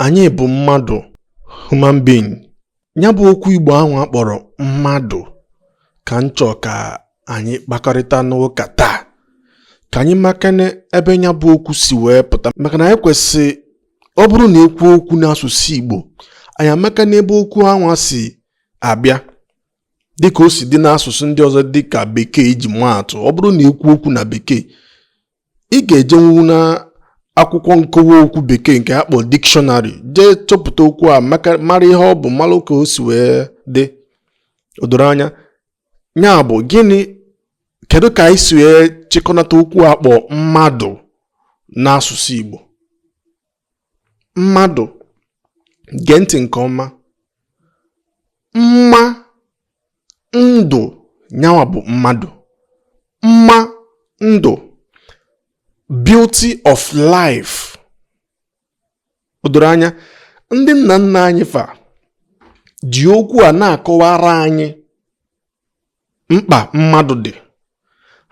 anyị bụ mmadụ human being nya bụ okwu igbo anwa a kpọrọ mmadụ ka m chọọ ka anyị kpakọrịta n'ụka taa ka anyị makene ebe nya bụ okwu si wee pụta maka na anyị kwesị ọ bụrụ na ekwuo okwu n'asụsụ igbo anyị amakene ebe okwu anwa si abịa dịka o si dị n'asụsụ ndị ọzọ dịka bekee iji maa atụ ọ bụrụ na ekwuo okwu na bekee ị ga-ejenwu na akwụkwọ nkọwa okwu bekee nke a kpọ dictionary jee chọpụta okwu a mara ihe ọ bụ mara ka o si wee dị o doro anya nya bụ gịnị kedu ka anyị si wee chịkọnata okwu a kpọ mmadụ n'asụsụ Igbo mmadụ gee ntị nke ọma mma ndụ nya nwa bụ mmadụ mma ndụ beauty of life o doro anya ndị nna nna anyị fa ji okwu a na-akọwara anyị mkpa mmadụ dị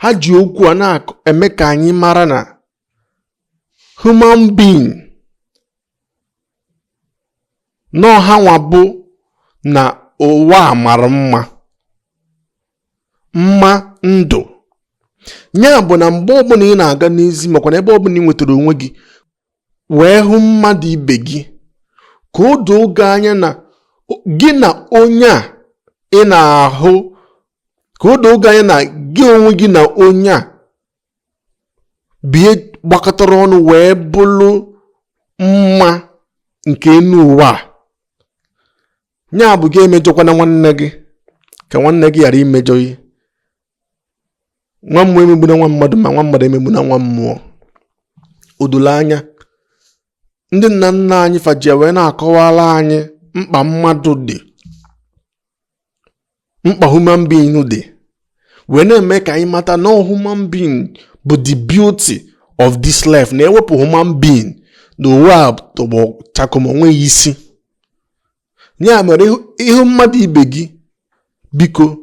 ha ji okwu a na-eme ka anyị mara na human being na ọ ha nwa bụ na ụwa a mara mma mma ndụ nya bụ na mgbe ọbụna ị na-aga n'ezi makwa na ebe ọbụna ị nwetara onwe gị wee hụ mmadụ ibe gị ka o doo gị anya na gị na onye a ị na-ahụ ka o doo gị anya na gị onwe gị na onye a bie gbakọtara ọnụ wee bụrụ mma nke enu ụwa a nya bụ gị emejọkwana nwanne gị ka nwanne gị ghara imejọ gị nwa mmụọ emegbuna nwa mmadụ ma nwa mmadụ emegbuna nwa mmụọ o dolo anya ndị nna nna anyị fa ji ya wee na-akọwara anyị mkpa mmadụ dị mkpa human being dị wee na-eme ka anyị mata na ọ human being bụ the beauty of this life na ewepụ human being na ụwa atọgbọ chakom onweghị isi ya mere ị hụ mmadụ ibe gị biko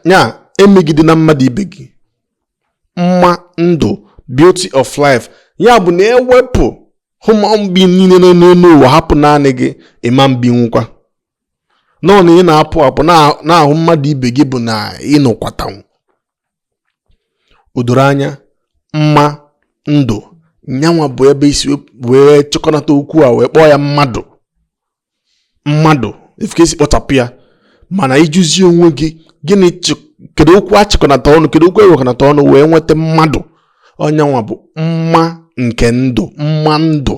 nya emegidena mmadụ ibe gị mma ndụ beauty of life ya bụ na ewepụ human being niile nọ n'ụwa hapụ naanị gị ị ma ebinwukwa nọ na ị na-apụ apụ na-ahụ mmadụ ibe gị bụ na ịnọkwatanwu o doro anya mma ndụ nyanwa bụ ebe esi wee chịkọnata okwu a wee kpọọ ya mmadụ mmadụ ị fụ ka esi kpọchapụ ya mana ịjụzi onwe gị gịnị kedu okwu a chịkọnata ọnụ kedu okwu ewekọnata ọnụ wee nweta mmadụ ọ nyanwa bụ mma nke ndụ mma ndụ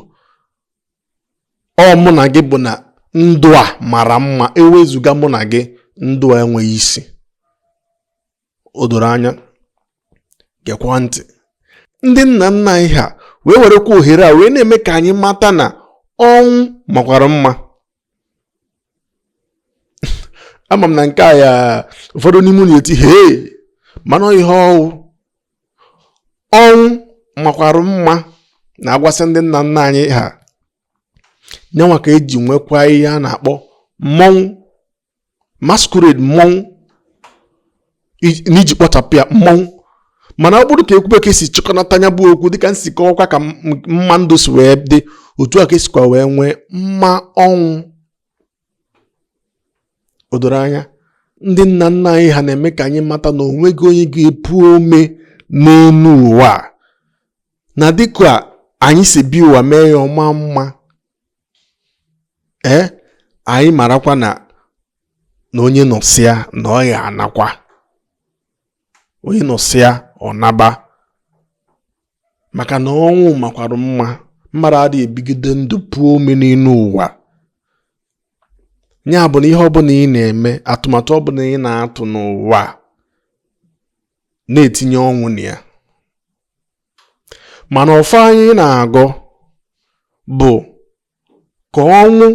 ọ mụ na gị bụ na ndụ a mara mma ewezụga mụ na gị ndụ a enweghị isi o doro anya gekwa ntị ndị nna nna anyị ha wee werekwa ohere a wee na-eme ka anyị mata na ọnwụ makwara mma ama m na nke a ya ụfọdụ n'ime unu etie hee mana ihe ọnwụ ọnwụ makwara mma na agwasị ndị nna nna anyị ha nyanwa ka eji nwekwa ihe a na-akpọ mmọnwụ masquerade mmọnwụ n'iji kpọchapụ ya mmọnwụ mana ọ bụrụ ka ekwube ka esi chịkọnata nya bụ okwu dịka m si kọwakwa ka mma ndụ si wee dị otu a ka esikwa wee nwee mma ọnwụ o doro anya ndị nna nna anyị ha na-eme ka anyị mata na onweghị onye ga-epu ome n'elu ụwa na dịka anyị si bi ụwa mee ya ọ maa mma ee anyị marakwa na na onye nọsịa na ọ ya-anakwa onye nọsịa ọ naba maka na ọnwụ makwara mma mmadụ adịghị ebigide ndụ puo ome n'elu ụwa ya bụ na ihe ọbụla ị na-eme atụmatụ ọbụla ị na-atụ n'ụwa na-etinye ọnwụ na ya mana ọfọ anyị na-agọ bụ ka ọnwụ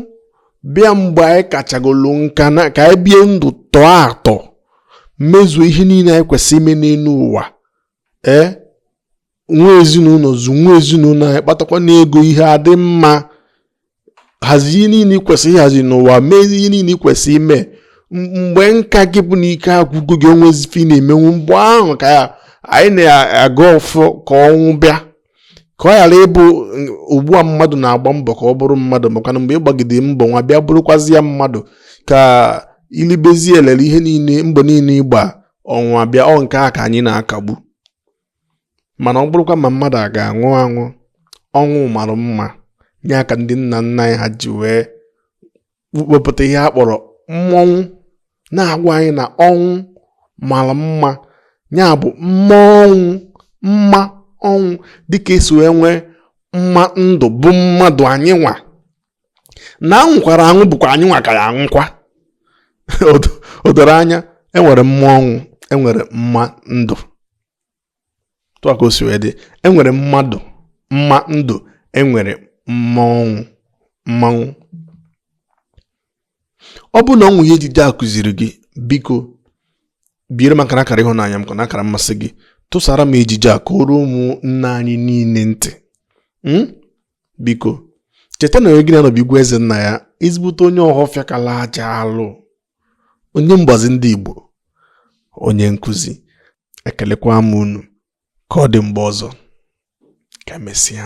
bịa mgbe anyị kachagolu nka na ka anyị bie ndụ tọọ atọ mezuo ihe niile anyị kwesịrị ime n'elu ụwa ee nwee ezinụlọ zụọ nwa ezinụlọ anyị kpatakwanụ ego ihe adị mma hazie ihe niile ikwesị ịhazi n'ụwa mee ihe niile ikwesị ime mgbe nka gị bụ na ike agwụgo gị onwezi ife ị na-emenwu mgbe ahụ ka anyị na-agọ ọfọ ka ọnwụ bịa ka ọ ghara ịbụ ugbu a mmadụ na-agba mbọ ka ọ bụrụ mmadụ maka na mgbe ị gbagide mbọ nwa bịa bụrụkwazi ya mmadụ ka i libezi elele ihe niile mbọ niile ị gba ọnwụ abịa ọ nke a ka anyị na-akagbu mana ọ bụrụkwa ma mmadụ a ga-anwụ anwụ ọnwụ mara mma nya ka ndị nna nna anyị ha ji wee wepụta ihe a kpọrọ mmọnwụ na-agwa anyị na ọnwụ mara mma ya bụ mmọnwụ mma ọnwụ dịka esi wee nwee mma ndụ bụ mmadụ anyị nwa na anwụkwara anwụ bụkwa anyị nwa ka ya anwụkwa o doro anya enwere mma ọnwụ enwere mma ndụ etu a ka o si wee dị enwere mmadụ mma ndụ enwere mma ọnwụ mmanwụ ọ bụ na o nwee ihe ejije a kụziri gị biko biere m aka n'akara ịhụnanya m ka na akara mmasị gị tụsara m ejije a ka o ruo ụmụnne anyị niile ntị hmm? biko cheta na onye gị na ya nọ bụ igwe eze nna ya ezigbote onye ọhọfịa kala aja alụ onye mgbazi ndị Igbo onye nkụzi ekelekwa m unu ka ọ dị mgbe ọzọ ka emesịa